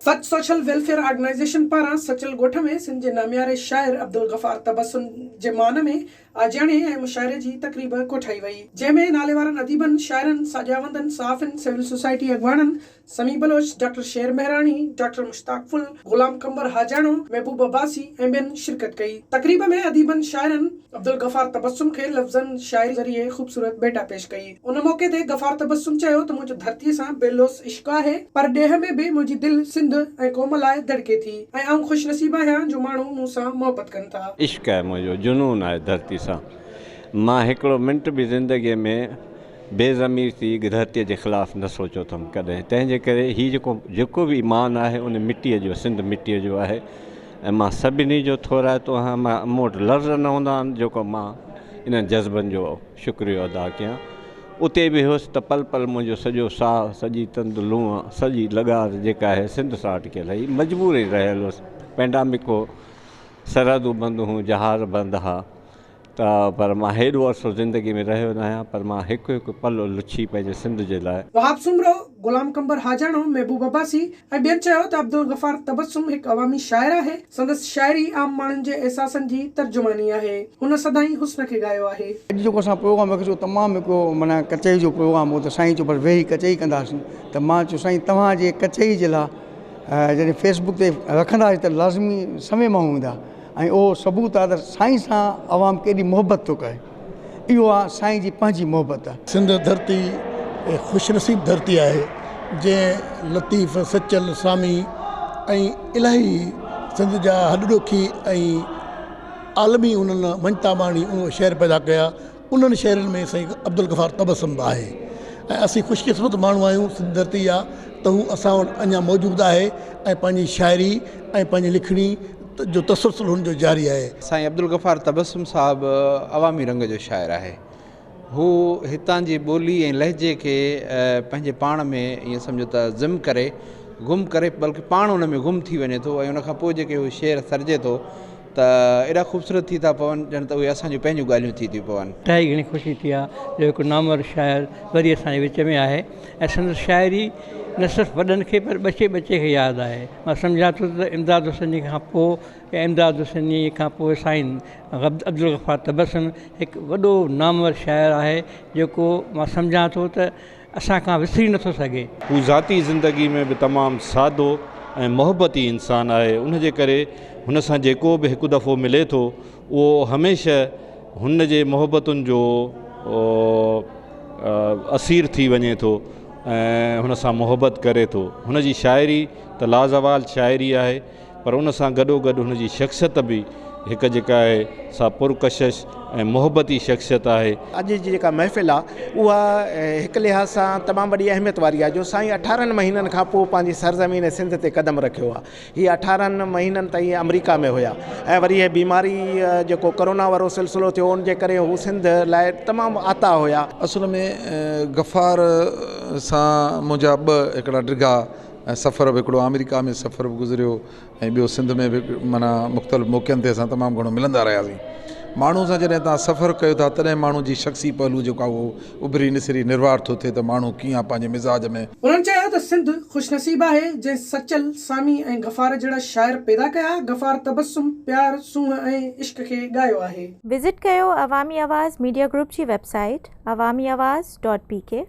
سچ social welfare organisation پاران سچل ڳوٺ ۾ سنڌ جي نامياري شاعر عبدالغفار تبسم جي مان ۾ آجياڻي ۽ مشاعري جي تقريب ڪوٺائي وئي، جنهن ۾ ناليوارن اديبن، شاعرن، ساڄاوندن، صحافين، سول سوسائٽي اڳواڻن، سميع بلوچ، ڊاڪٽر شير مهراڻي، ڊاڪٽر مشتاق ڦل، غلام قنبر حاجاڻو، محبوب عباسي ۽ ٻين شرڪت ڪئي. تقريب ۾ اديبن شاعرن عبدالغفار تبسم کي لفظن شاعري ذريعي خوبصورت ڀيٽا پيش ڪئي. ان موقعي تي غفار تبسم چيو ته منهنجو ڌرتيء سان بي لوث عشق آهي، پر ڏيهه ۾ به منهنجي دل سنڌ ۽ قوم لاء دڙڪي ٿي ۽ آئون خوش نصيب آهيان جو ماڻهو مون سان محبت ڪن ٿا. عشق آهي منهنجو، جنون آهي ڌرتي سان، مان هڪڙو منٽ به زندگيء ۾ بي ضمير ٿي ڌرتيء جي خلاف نه سوچيو اٿم ڪڏهن، تنهن جي ڪري هي جيڪو جيڪو به ايمان آهي ان مٽيء جو سنڌ مٽيء جو آهي ۽ مان سڀني جو ٿورائتو آهيان، مان مون وٽ لفظ نه هوندا آهن جيڪو مان انهن جذبن جو شڪريو ادا ڪيان. اتي به هيس ته پل پل منهنجو سڄو ساهه، سڄي تند لونء، سڄي لغار جيڪا هي سنڌ سان اٽڪيل هئي. مجبورين رهيل هيس. پينڊامڪ هو، سرحدون بند هيون، جهاز بند ها ته پر مان هيڏو عرصو زندگي ۾ رهيو ناهيان پر مان هڪ هڪ پل لڇي پنهنجي سنڌ جي لاء. وهاب سومرو، غلام قنبر حاجاڻو، محبوب عباسي، ۽ ٻين چيو ته عبدالغفار تبسم هڪ عوامي شاعر آهي، سندس شاعري عام ماڻهن جي احساسن جي ترجماني آهي، هن سدائين حسن کي ڳايو آهي. اڄ جيڪو اسان پروگرام رکيو سو تمام هڪ معنيٰ ڪچهري جو پروگرام هو ته سائين چيو بس ويهي ڪچهري ڪنداسين ته مان چيو سائين توهان جي ڪچهري جي لاء جڏهن فيس بڪ تي رکنداسين ته لازمي سوين ماڻهو ايندا ۽ اهو ثبوت آهي ته سائين سان عوام ڪيڏي محبت ٿو ڪري. اهو آ سائين جي پنهنجي محبت. سنڌ ڌرتي اهي خوش نصيب ڌرتي آهي جنهن لطيف سچل سامي ۽ الاهي سنڌ جا هڏڏوکي ۽ عالمي انهن مڃتا ماڻي اهي شعر پيدا ڪيا انهن شعرن ۾ سائين عبدالغفار تبسم به آهي ۽ اسين خوش قسمت ماڻهو آهيون سنڌ ڌرتي جا ته هو اسان وٽ اڃا موجود آهي ۽ پنهنجي شاعري ۽ پنهنجي لکڻي جو تسلسل هن جو جاري آهي. سائين عبدالغفار تبسم صاحب عوامي رنگ جو شاعر آهي. هو هتان جي ٻولي ۽ لهجي کي پنهنجي پاڻ ۾ ائين سمجهو ته ضم ڪري گم ڪري بلڪه پاڻ ان ۾ گم ٿي وڃي ٿو ۽ ان کان پوء جيڪي هو شعر سرجي ٿو ته ايڏا خوبصورت ٿي ٿا پون ڄڻ ته اهي اسان جون پنهنجون ڳالهيون ٿي ٿيون پون. ٽهائي گهڻي خوشي ٿي آ جو هڪ نامور شاعر وري اسان جي وچ ۾ آهي. ۽ سندس شاعري نه صرف وڏن کي پر ٻچي ٻچي کي ياد آهي مان سمجهان ٿو ته امداد حسيني کان پوء يا امداد حسيني کان پوء سائين عبدالغفار تبسم هڪ وڏو نامور شاعر آهي جيڪو مان سمجهان ٿو ته اسان کان وسري نه ٿو سگهي. هو ذاتي زندگي ۾ به تمام سادو ۽ محبتي انسان آهي ان جي ڪري هن سان جيڪو به هڪ دفعو ملي ٿو اهو هميشه هن جي محبتن جو اسير ٿي وڃي ٿو ۽ هن سان محبت ڪري ٿو هن جي شاعري ته لازوال شاعري آهي پر ان سان گڏو گڏ هن جي شخصيت به هڪ جيڪا آهي سا پرڪشش ۽ محبتي شخصيت آهي. اڄ جي جيڪا محفل آ اها هڪ لحاظ سان تمام وڏي اهميت واري آ جو سائين اٺارهن مهينن کان پوء پنهنجي سرزمين سنڌ تي قدم رکيو آ هي اٺارهن مهينن تائين آمريڪا ۾ هيا ۽ وري هي بيماري جيڪو ڪرونا وارو سلسلو ٿيو ان جي ڪري هو سنڌ لاء تمام آتا هيا. اصل ۾ غفار سان منهنجا ٻه هڪڙا ڊگها ۽ سفر به هڪڙو آمريڪا ۾ سفر به گذريو ۽ ٻيو سنڌ ۾ به معنيٰ مختلف موقعن تي اسان تمام گهڻو ملندا رهياسين ماڻهو سان جڏهن تان سفر ڪيو ٿا تڏهن ماڻهو جي شخصي پهلو جيڪو آهي اهو اڀري نسري نروار ٿو ٿئي ته ماڻهو ڪيئن پنهنجي مزاج ۾. هنن چيو ته سنڌ خوشنصيب آهي جنهن سچل، سامي ۽ غفار جهڙا شاعر پيدا ڪيا، غفار تبسم، پيار، سونهن ۽ عشق کي ڳايو آهي. وزٽ ڪيو عوامي آواز ميڊيا گروپ جي website Awami Awaz dot P ڪي.